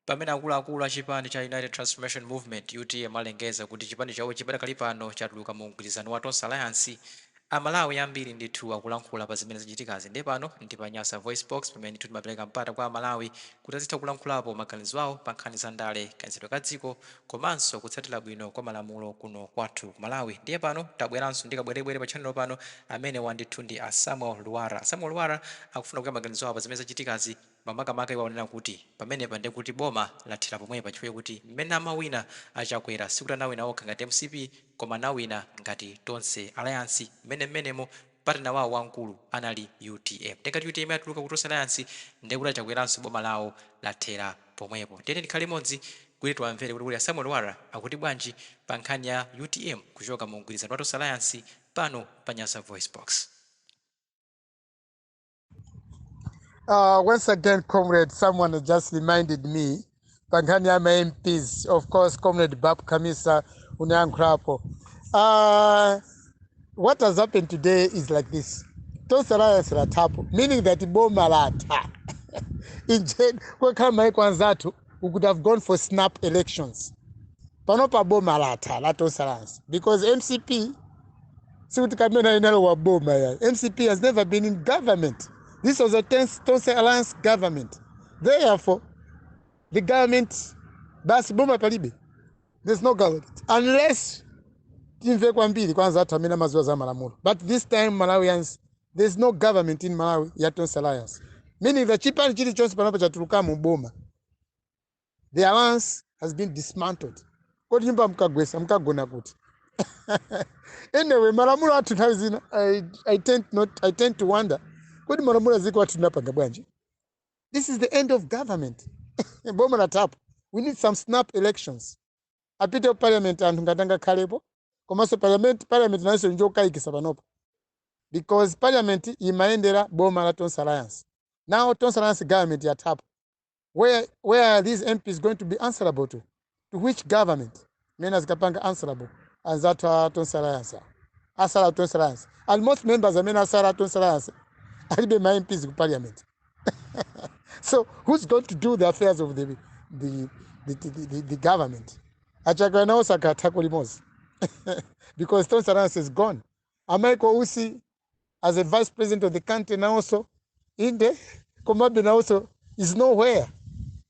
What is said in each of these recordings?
Pamene akuluakulu a chipani cha United Transformation Movement, utm, alengeza kuti chipani chawochi padakali pano chatuluka mu mgwirizano wa Tonse Alliance, Amalawi ambiri ndithu akulankhula pa zimene zachitikazi. Ndiye pano ndi pa Nyasa VoiceBox, pamene ndithu timapereka mpata kwa Amalawi kuti azitha kulankhulapo maganizo awo pa nkhani za ndale, kayendetsedwe ka dziko, komanso kutsatira bwino kwa malamulo kuno kwathu ku Malawi. Ndiye pano tabweranso ndi kabwerebwere pa channel pano, amenewa ndithu ndi a Samuel Lwara. A Samuel Lwara akufuna kuika maganizo awo pa zimene zachitikazi. Makamaka iwo akuona kuti pamenepa ndiye kuti boma lathera pomwepa chifukwa chakuti mmene amawina a Chakwera sikuti anawina okha ngati mcp koma anawina ngati Tonse Alliance mmene mmenemo partner wawo wamkulu anali utm ndiye ngati utm yatuluka ku Tonse Alliance ndiye kuti a Chakweranso boma lawo lathera pomwepo. Tiyeni tikhale limodzi kuti tiwamvere kuti kodi a Samuel Lwara akuti bwanji pa nkhani ya utm kuchoka mu mgwirizano wa Tonse Alliance pano pa Nyasa VoiceBox. Uh, once again, comrade, someone has just reminded me pankhani ya ma MPs. Of course, comrade Bab Kamisa unayankhulapo. Uh, what has happened today is like this. Tonse alliance latapo, meaning that boma latha. Injeni, kwa kama iko anzatu, we could have gone for snap elections panopa boma latha la tonse alliance because mcp sikuti kamena inalowa boma yayi mcp has never been in government this was a tonse alliance government therefore the government basi boma palibe there's no government unless timve kwambiri kwa anzathu amene amaziwa za malamulo but this time malawians There is no government in Malawi ya Tonse Alliance. Meaning that chipani chilichonse panopa chatulukamo boma. The alliance has been dismantled. Kodi nyumba mkagwesa mkagona kuti? anyway, malamulo athu nthawi zina I tend to wonder kodi malamulo aziko athu tinapanga bwanji? This is the end of government. boma lathapo. We need some snap elections. apite ku parliament anthu ngati angakhalepo komanso parliament parliament nayonso njokayikisa panopa because parliament imayendera boma la tonse alliance now tonse alliance government yathapo where, where are these mps going to be answerable to to which government mene azikapanga answerable anzathu a tonse alliance awa. atsala a tonse alliance and most members amene atsala a tonse alliance alibe ma mps ku parliament so who's going to do the affairs of the, the, the, the, the, the government achakana osakatha kulimodzi because tonse alliance is gone amaiko usi as a vice president of the country nawonso inde komabe nawonso is nowhere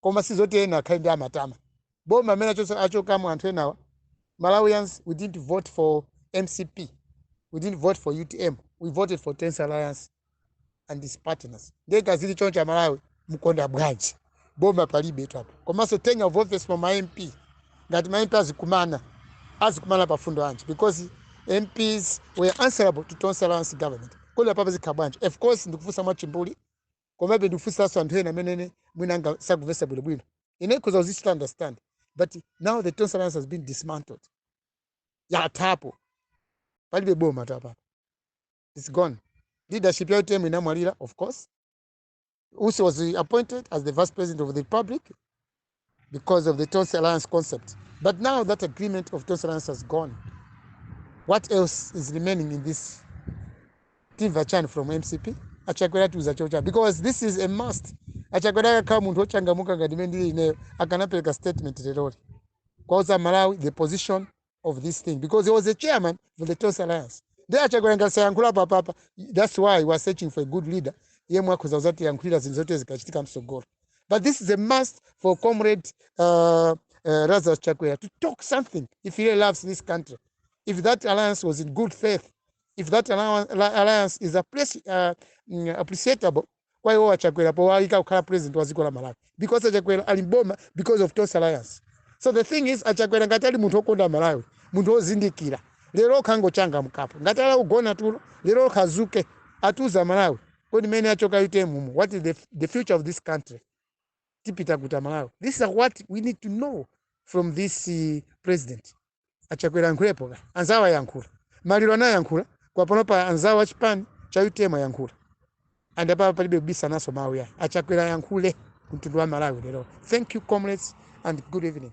koma si zoti ena akhale ndikumatama boma amene achokamo anthu enawa malawians we didn't vote for mcp we didn't vote for utm we voted for tonse alliance and its partners ndiye kazili choncho amalawi mkonda bwanji boma palibe lathapo komanso tenure of office for ma mp ngati ma mp azikumana azikumana pa fundo anji because mps were answerable to tonse alliance government kodi apapa zikhala bwanji of course ndikufunsa mwachimbuli komabe ndikufunsiranso anthu ena amenenso mwina sakumvetsa bwinobwino ine ndikhoza kuzichita understand but now the tonse alliance has been dismantled yathapo palibe boma apapa it's gone leadership ya utm inamwalira of course usi was appointed as the vice president of the republic because of the Tonse Alliance concept. But now that agreement of Tonse Alliance has gone, what else is remaining in this Tim Vachan from MCP? Achakwera atiuza chocho because this is a must. Achakwera akanakhala munthu ochangamuka ngati mene ndili ineyo akanapereka statement leroli. Kwauza Malawi the position of this thing because he was a chairman for the Tonse Alliance. Ndi achakwera ngati sayankhula pa papa. That's why we are searching for a good leader. Yemwe akhoza kuzati yankhulira zinthu zote zikachitika msogolo. But this is a must for comrade uh, uh, Lazarus Chakwera to talk something if he really loves this country. If that alliance was in good faith, if that alliance, alliance is appreci- uh, mm, appreciable, kwa iwowa achakwera powayika kukhala president wa dziko la malawi because achakwera ali mboma because of tonse alliance so the thing is achakwera ngati ali munthu okonda malawi munthu ozindikira lero okha angochangamukapo ngati ali kugona tulo lero okha azuke atiuza malawi kodi mene achoka utm mu what is the, the future of this country tipita kuti amalawi this is what we need to know from this uh, president achakwera ayankhulepo kaye anzawo ayankhula maliro anayankhula apanopa anzawo achipani cha utm ayankhula ndi apapa palibe kubisa naso mawu ya achakwera ayankhule kumtundu wa malawi lero thank you comrades and good evening